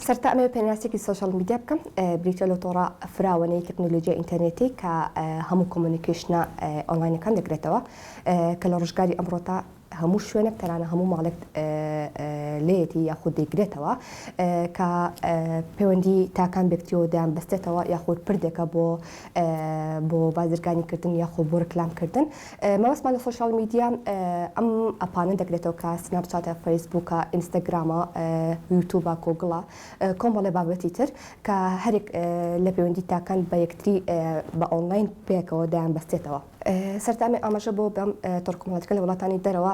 سەرەتا ئەمەوێ پێناسێکی سۆشیال میدیا بکەم بریتە لە تۆڕە فراوانەی تەکنۆلۆژیا ئینتەرنێتی کە هەموو کۆمونیکیشنە ئۆنلاینەکان دەگرێتەوە کە لە ڕژگاری ئەمڕۆتا هەموو شوێنێک تەرانە هەموو ماڵێک لێتی یاخود دەیگرێتەوە کە پەیوەندی تاکان بێکتیەوە دەیان بەستێتەوە یاخود پردێکە بۆ بۆ بازرگانی کردن یاخۆ بۆ رکلامکردن مەبەستمان لە سۆشیال میدیا ئەم ئەپانە دەگرێتەوە کە سناپ چاتە، فەیس بووکە، ئینستاگرامە، یوتوبە، گۆگڵە، کۆمەڵێ بابەتی تر کە هەرێک لە پەیوەندی تاکان بە یەکتری بە ئۆنڵاین پێکەوە دەیان بەستێتەوە. سەردانێ ئاماژە بۆ بەم تۆڕکۆمەڵاتیکە لە وڵاتانی دەرەوە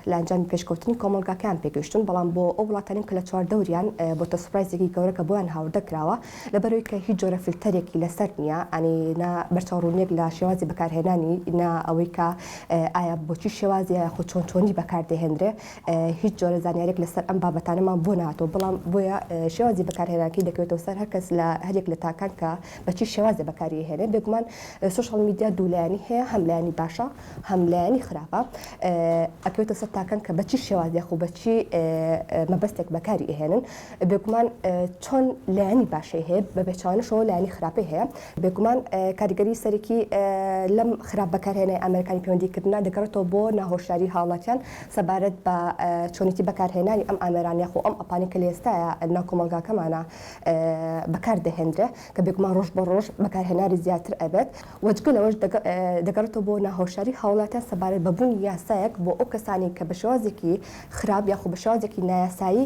لە ئەنجامی پێشکەوتنی کۆمەڵگاکەیان پێگەیشتوون بەڵام بۆ ئەو وڵاتانەی کە لە چواردەوریان بۆتە سوپرایزێکی گەورە کە بۆیان هاوردە کراوە لەبەرەوەی کە هیچ جۆرە فلتەرێکی لەسەر نییە، ئەنی نە بەرچاوڕوونییەک لە شێوازی بەکارهێنانی، نە ئەوەی کە ئایا بۆ چی شێوازییە یاخود چۆن چۆنی بەکار دەهێندرێ، هیچ جۆرە زانیارییەک لەسەر ئەم بابەتانەمان بۆ نەهاتووە، بەڵام بۆیە شێوازی بەکارهێنانەکەی دەکەوێتەوە سەر هەر کەس لە هەر یەک لە تاکان کە بە چی شێوازێ بەکاری ئەهێنێ، بێگومان سۆشیال میدیا دوو لایەنی هەیە، هەم لایەنی باشە هەم لایەنی خراپە، ئەکەوێتە سەر تاکان کە بە چی شێواز یاخود بە چی مەبەستێک بەکاری ئەهێنن. بێگومان چۆن لایەنی باشەی هەیە بە بێچوانشەوە لایەنی خراپی هەیە بێگومان کاریگەری سەرەکی لەم خراپ بەکارهێنای ئەمریکانی پەیوەندیکردنا دەگەڕێتەوە بۆ ناهۆشداری هاوڵاتیان سەبارەت بە چۆنێتی بەکارهێنانی ئەم ئامێرانە خۆ ئەم ئەپانی کە لێستایە ناو کۆمەلگاکەمانە بەکار دەهێنرێ کە بێگومان ڕۆژ بە ڕۆژ بەکارهێناری زیاتر ئەبێت وەجگە لەوەش دەگەڕێتەوە بۆ ناهۆشاری هاوڵاتیان سەبارەت بەبوونی یاسایەک بۆ ئەو کەسانی کە بە شێوازێکی خراپ یاخۆ بە شێوازێکی نایاسایی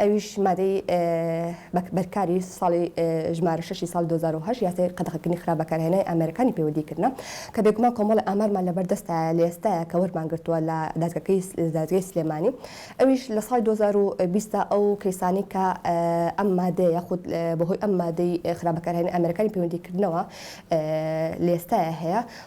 ئەویش مادەی بەرکاری ساڵی ژمارە شەشی ساڵی دوو هەزار و هەشت یاسای قەدەغەکردنی خراپ بەکارهێنانی ئامێرەکانی پەیوەدی کردنە کە بێگومان کۆمەڵە ئامارمان لەبەر دەستایە لە ئێستایا کە وەرمان گرتووە لە دادگەکەی دادگەی سلێمانی ئەویش لە ساڵی دوو هەزار و بیست دا ئەو کەیسانەی کە ئەم مادەیە یاخود بەهۆی ئەم مادەی خراپ بەکارهێنانی ئامێرەکانی پەیوەندی کردنەوە لە ئێستایا هەیە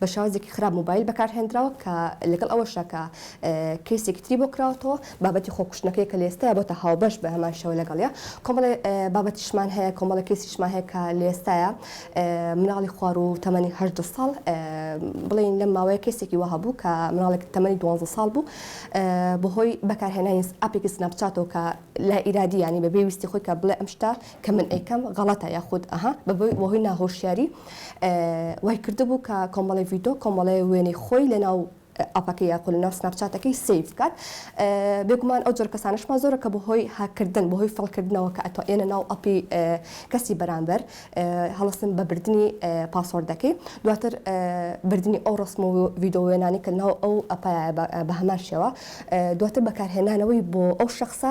بە شێوازێکی خراپ مۆبایل بەکارهێندراوە کە لەگەڵ ئەوەشدا کە کەیسێکی تری بۆ کراوەتەوە بابەتی خۆکوشتنەکەی کە لە ئێستایا بۆتە هاوبەش بە هەمان شێوە لەگەڵیا کۆمەڵێ بابەتیشمان هەیە کۆمەڵە کەیسیشمان هەیە کە لە ئێستایا مناڵی خوار و تەمەنی هەژدە ساڵ بڵێن لەم ماوەیە کەسێکی وەها بوو کە مناڵێک تەمەنی دوانزە ساڵ بوو بەهۆی بەکارهێنانی ئەپێکی سناپچاتەوە کە لا ئیرادی ینی بە بێویستی خۆی کە بڵێ ئەم شتە کە من ئەیکەم غەڵەتە یاخود ئەها بەبۆی وەهۆی ناهۆشیاری وای کردبوو کە کۆمەڵی ڤیدۆ کۆمەڵی وێنەی خۆی لەناو ئەپەکە یاخۆ لەناو سناپچاتەکەی سیف بکات بێگومان ئەو جۆر کەسانشمان زۆرە کە بەهۆی هاکردن بەهۆی فڵکردنەوە کە ئەتۆ ئێنە ناو ئەپی کەسی بەرامبەر هەڵستن بە بردننی پاسۆردەکەی دواتر بردننی ئەو ڕسم و ڤیدۆوێنانی کە ناو ئەو ئەپە بە هەمان شێوە دواتر بەکارهێنانەوەی بۆ ئەو شخصە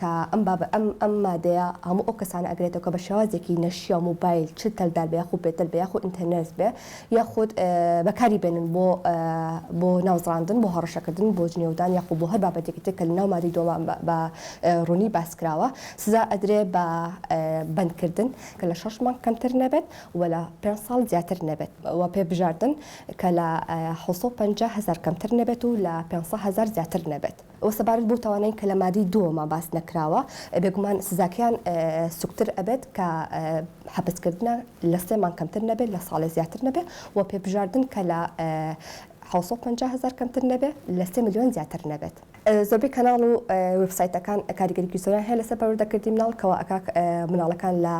کە ئەم باب ئەم ئەم مادەیە هەموو ئەو کەسانە ئەگرێتەوە کە بە شێوازێکی نەشیاو موبایل چ تەلدار بێ یاخود بێ تەل بێ یاخود ئینتەرنێرس بێ یاخود بەکاری بێنن بۆ بۆ ناوزڕاندن بۆ هەڕەشەکردن بۆ جنێودان یاخود بۆ هەر بابەتێکی تر کە لە ناو مادەی دووەما بە ڕوونی باس کراوە سزا ئەدرێ بە بەندکردن کە لە شەش مانگ کەمتر نەبێت و لە پێنج ساڵ زیاتر نەبێت و پێ بژاردن کە لە حوسۆ پەنجا هەزار کەمتر نەبێت و لە پێنج سەد هەزار زیاتر نەبێت. وە سەبارەت بەو تاوانەی کە لە مادەی دووەما باس نەکراوە بێگومان سزاکەیان سوکتر ئەبێت کە حەپسکردنە لە سێ مانگ کەمتر نەبێت لە ساڵێ زیاتر نەبێ و پێبژاردن کە لە حوسە پ هزار کەمتر نەبێ لە سێ ملیۆن زیاتر نەبێت. زۆربەی کەناڵ و وێبسایتەکان کاریگەریی زۆریان هەیە لەسەر پەروەردەکردنی مناڵ کەوا ئەکا مناڵەکان لە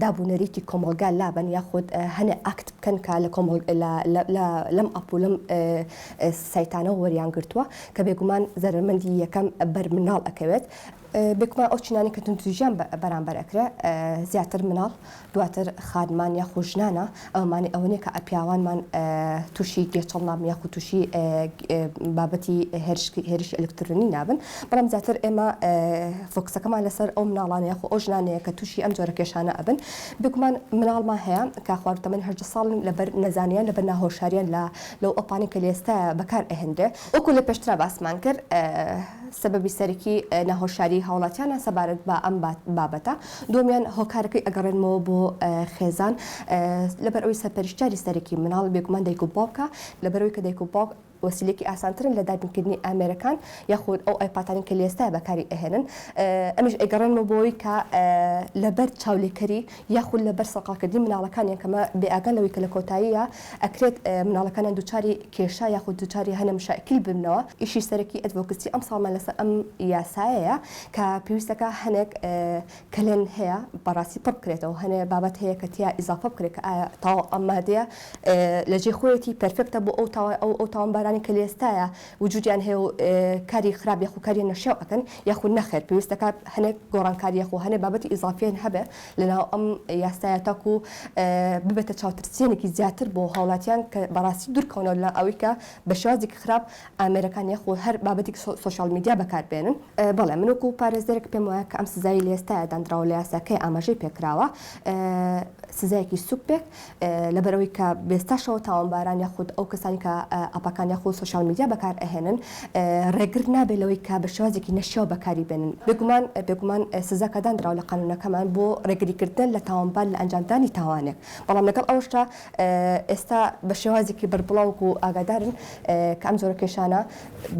داب و نەریتی کۆمەڵگا لابەن یاخود هەنێ ئاکت بکەن کە لە کۆمەڵ لە لەم ئەپ و لەم سایتانەوە وەریان گرتووە کە بێگومان زەرەرمەندی یەکەم بەر مناڵ ئەکەوێت بێکمان ئەو چینانی کە توندوتیژیان بەرامبەر ئەکرێ زیاتر مناڵ دواتر خانمان یاخو ژنانە ئەومانی ئەوە نیە کە ئەپیاوانمان تووشی گێچەڵ نابن یاخو تووشی بابەتی هێرشکی هێرشی ئەلکترۆنی نابن بەڵام زیاتر ئێمە فۆکسەکەمان لەسەر ئەو مناڵانە یاخو ئەو ژنانەیە کە تووشی ئەم جۆرە کێشانە ئەبن بێگومان مناڵمان هەیە کە خواردتەمەنی هەژدە ساڵن لەبەر نەزانیان لەبەر ناهۆشاریان لە لەو ئەپانەی کە لەئێستا بەکار ئەهێنرێ. وەکو لە پێشترا باسمان کرد سەبەبی سەرەکی ناهۆشیاری هاوڵاتیانە سەبارەت بە ئەم بابەتە. دووەمیان هۆکارەکەی ئەگەڕێنمەوە بۆ خێزان لەبەر ئەوەی سەرپەرشتیاری سەرەکی منداڵ بێگومان دایک و باوکە لەبەرئەوەی کە دایک و باوک وەسیلەیەکی ئاسانترن لە دابین کردنی ئامێرەکان یاخود ئەو ئایپاتانەی کە لەئێستا بەکاری ئەهێنن ئەمیش ئەیگەڕێنمەوە بۆ ئەوەی کە لەبەر چاولێکەری یاخود لەبەر سەرقاڵکردنی مناڵەکانیان کە مە بێ ئاگان لەوەی کە لە کۆتاییا ئەکرێت مناڵەکانیان دووچاری کێشە یاخود دووچاری هەنە مشائکیل ببنەوە ئیشی سەرەکی ئەدڤۆکسی ئەمساڵمان لەسەر ئەم یاسایەیە کە پێویستەکە هەنێک کەلێن هەیە بەڕاستی پڕ بکرێتەوە هەنێ بابەت هەیە کە تیا ئیزافە بکرێت کە ئایا تاوە ئەم مادەیە لە جێ خۆیەتی پێرفێکتە بۆ ئەو تاوە ئەو ئەو تاوانبارانی کە لە ئێستایە وجودیان هەیە و کاری خراپ یاخو کاری نەشیاو ئەکەن یاخو نەخێر پێویستەکا هەنێک گۆڕانکاری یاخو هەنێ بابەتی ئیزافیان هەبێ لەناو ئەم یاسایە تاکو ببێتە چاوترسیەنێکی زیاتر بۆ هاوڵاتیان کە بەڕاستی دور کەونەوە لە ئەوەی کە بە شێوازێکی خراپ ئامێرەکان یاخو هەر بابەتێکی سۆشیال میدیا بەکار بێنن. بەڵێ من وەکو پارێزەرێک پێم وایە کە ئەم سزایەی لە ئێستایا داندراوە لە یاساکەیا ئاماژەی پێ کراوە سزایەکی سوک بێ. لەبەرئەوەی کە بێستاشەوە تاوانباران یاخود ئەو کەسانی کە ئەپەکان یاخود سوسیال میدیا بەکار ئەهێنن ڕێگر نابێت لەوەی کە بە شێوازێکی نەشیاو بەکاری بێنن بێگومان بێگومان سزا کە دانراوە لە قانونەکەمان بۆ ڕێگریکردن لە تاوانبار لە ئەنجامدانی تاوانێک بەڵام لەگەڵ ئەوشتا ئێستا بە شێوازێکی بەربڵاوک و ئاگادارن کە ئەم جۆرە کێشانە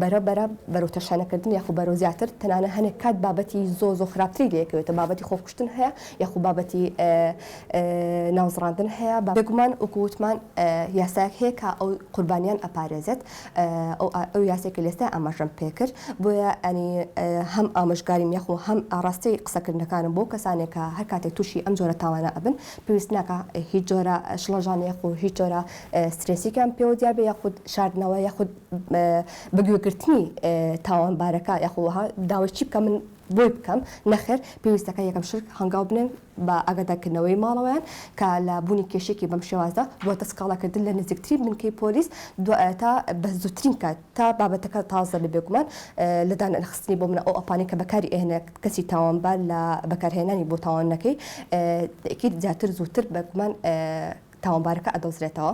بەرە بەرە بەرەو تەشانەکردن یاخود بەرەو زیاتر تەنانە هەنێک کات بابەتی زۆ زۆ خراپتری لەکەوێتە بابەتی خۆکوشتن هەیە یاخود بابەتی ناوزڕاندن هەیە بێگومان وەکو وتمان یاسایەک هەیە کە ئەو قوربانیان ئەپارێزێت ئەو یاسای کە لێستا ئاماژەم پێکرد بۆیە ئەنی هەم ئامژگاریم یەخۆ هەم ئاڕاستەی قسەکردنەکانم بۆ کەسانێک کە هەر کاتێک تووشی ئەم جۆرە تاوانە ئەبن پێویست ناکە هیچ جۆرە شڵەژان یەخۆ هیچ جۆرە سترێسیکان پێوە دیار بێ یاخود شاردنەوە یاخود بەگوێگرتنی تاوانبارەکە یاخۆها داوای چی بکە من بۆی بکەم نەخێر پێویستەکە یەکەم شت هەنگاو بنێن بە ئاگادارکردنەوەی ماڵەوەیان کە لە بوونی کێشەیەکی بەم شێوازە بووەتە سکاڵاکردن لە نزیکترین بنکەی پۆلیس دوای تا بە زووترین کات تا بابەتەکە تازە بێ بێگومان لە دانەنخستنی بۆ منە ئەو ئەپانەی کە بەکاری ئێنە کەسی تاوانبار لە بەکارهێنانی بۆ تاوانەکەی تەئکید زیاتر زووتر بەگومان تاوانبارەکە ئەدۆزرێتەوە.